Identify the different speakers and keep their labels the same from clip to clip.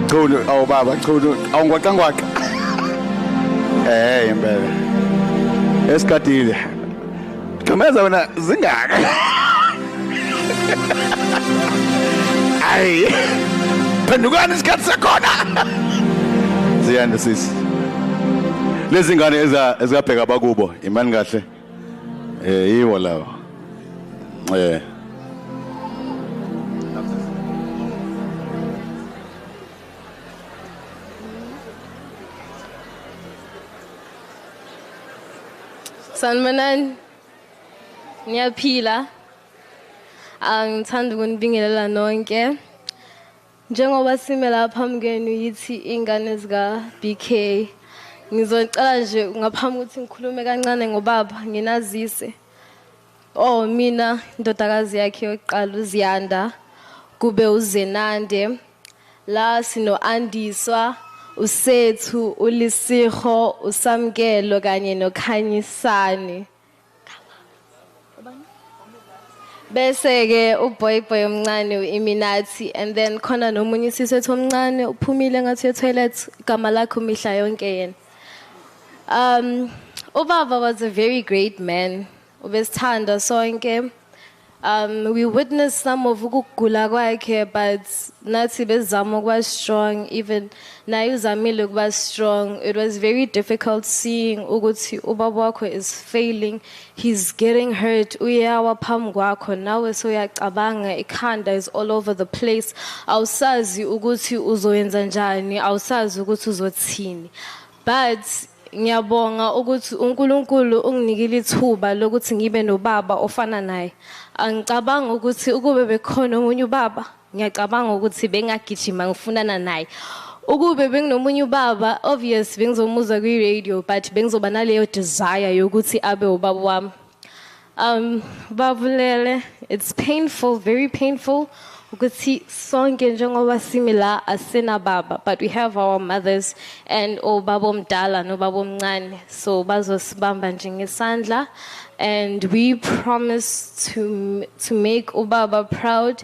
Speaker 1: Chunu awu baba chunu awungwaqa ngwaqa Eh impela Esigadile Gqemeza wena zingaka Ay Phendukani isikhathi sakhona Ziyanda sisi lezingane ezabheka bakubo imani kahle Eh yiwo lawo. Eh.
Speaker 2: Sanibonani. Ngiyaphila. Angithanda ukunibingelela nonke. Njengoba sime la phambi kwenu yithi iy'ngane zika-BK ngizocela nje ngaphambi ukuthi ngikhulume kancane ngobaba nginazise oh mina indodakazi yakhe yokuqala uziyanda kube uzenande la sino-andiswa usethu ulisiho usamkelo kanye nokhanyisani bese ke uboy boy omncane uiminathi and then khona nomunye isiswethu omncane uphumile ngathi toilet igama lakho mihla yonke yena um ubaba was a very great man ubesithanda sonke Um, we witnessed some of ukugula kwakhe but nathi bezama ukuba strong even naye uzamile ukuba strong it was very difficult seeing ukuthi ubaba wakho is failing he's getting hurt uyawa phambi kwakho nawe soyacabanga ikhanda is all over the place awusazi ukuthi uzoyenza njani awusazi ukuthi uzothini but Ngiyabonga ukuthi uNkulunkulu unginikile ithuba lokuthi ngibe nobaba ofana naye. Angicabanga ukuthi ukube bekhona omunye ubaba, ngiyacabanga ukuthi bengagijima ngifunana naye. Ukube benginomunye ubaba, obvious bengizomuzwa kwi-radio but bengizoba naleyo desire yokuthi abe ubaba wami. Um, babulele, it's painful, very painful. ukuthi sonke njengoba simi la asinababa but we have our mothers and obaba omdala nobaba omncane so bazosibamba nje ngesandla and we promise to to make ubaba proud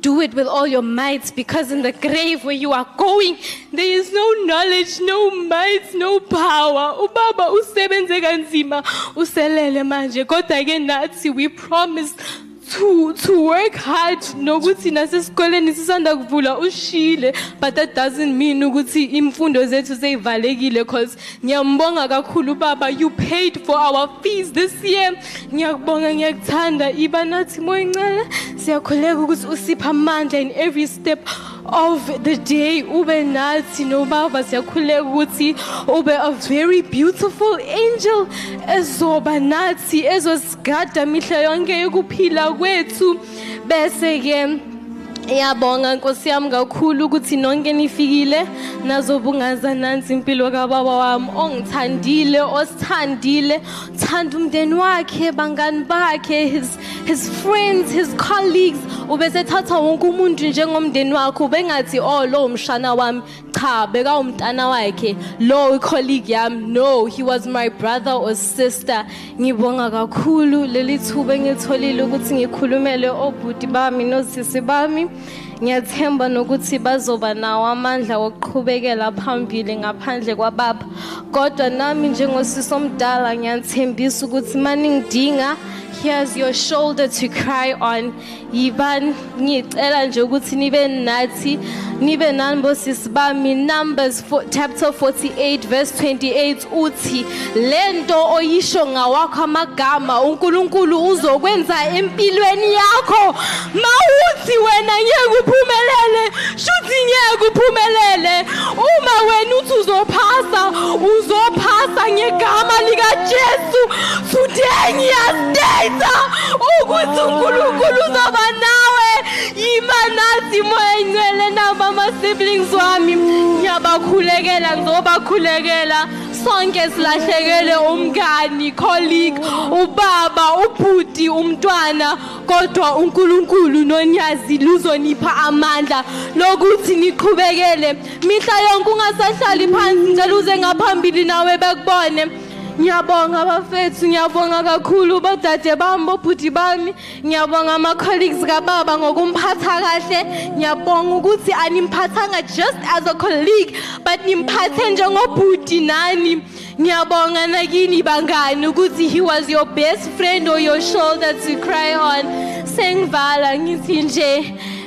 Speaker 2: Do it with all your might because in the grave where you are going there is no knowledge, no might, no power. Ubaba usebenze kanzima uselele manje kodwa ke nathi we promise to to work hard nokuthi nasesikoleni sisanda kuvula ushile but that doesn't mean ukuthi imfundo zethu seyivalekile because ngiyambonga kakhulu baba you paid for our fees this year ngiyakubonga ngiyakuthanda iba nathi moya incane siyakhuleka ukuthi usipha amandla in every step of the day ube nathi nobaba siyakhuleka ukuthi ube a very beautiful angel ezoba nathi ezosigada mihla yonke yokuphila kwethu bese ke Iyabonga Nkosi yami kakhulu ukuthi nonke nifikile nazobungaza nansi impilo kababa wami ongithandile osithandile thanda umndeni wakhe bangani bakhe his, his friends his colleagues ubesethatha wonke umuntu njengomndeni wakhe ubengathi oh lo umshana wami cha bekawumntana wakhe lo icolleague yami no he was my brother or sister ngibonga kakhulu leli thuba engitholile ukuthi ngikhulumele obhuti bami nosisi bami Ngiyathemba nokuthi bazoba nawo amandla wokuqhubekela phambili ngaphandle kwababa. Kodwa nami njengosisi omdala ngiyathembisa ukuthi maningidinga here's your shoulder to cry on. Yiban ngicela nje ukuthi nibe nathi nibe nani bosisi bami numbers chapter 48 verse 28 uthi lento oyisho ngawakho amagama uNkulunkulu uzokwenza empilweni yakho mawuthi wena ngeke uphumelele shuthi ngeke uphumelele uma wena uthi uzophasa uzophasa ngegama lika Jesu today ngiyastayza ukuthi uNkulunkulu uzoba nawe Yima nathi moya ingcwele nabo ama-siblings wami ngiyabakhulekela ngizobakhulekela sonke silahlekele umngani colleague ubaba ubhuti umntwana kodwa unkulunkulu nonyazi luzonipha amandla lokuthi niqhubekele mihla yonke ungasahlali phansi ngicela uze ngaphambili nawe bekubone ngiyabonga bafethu ngiyabonga kakhulu bodade bami bobhuti bami Ngiyabonga ama colleagues kababa ngokumphatha kahle. Ngiyabonga ukuthi animphathanga just as a colleague but nimphathe njengobhuti nani. Ngiyabonga nakini bangani ukuthi he was your best friend or your shoulder to cry on. Sengivala ngithi nje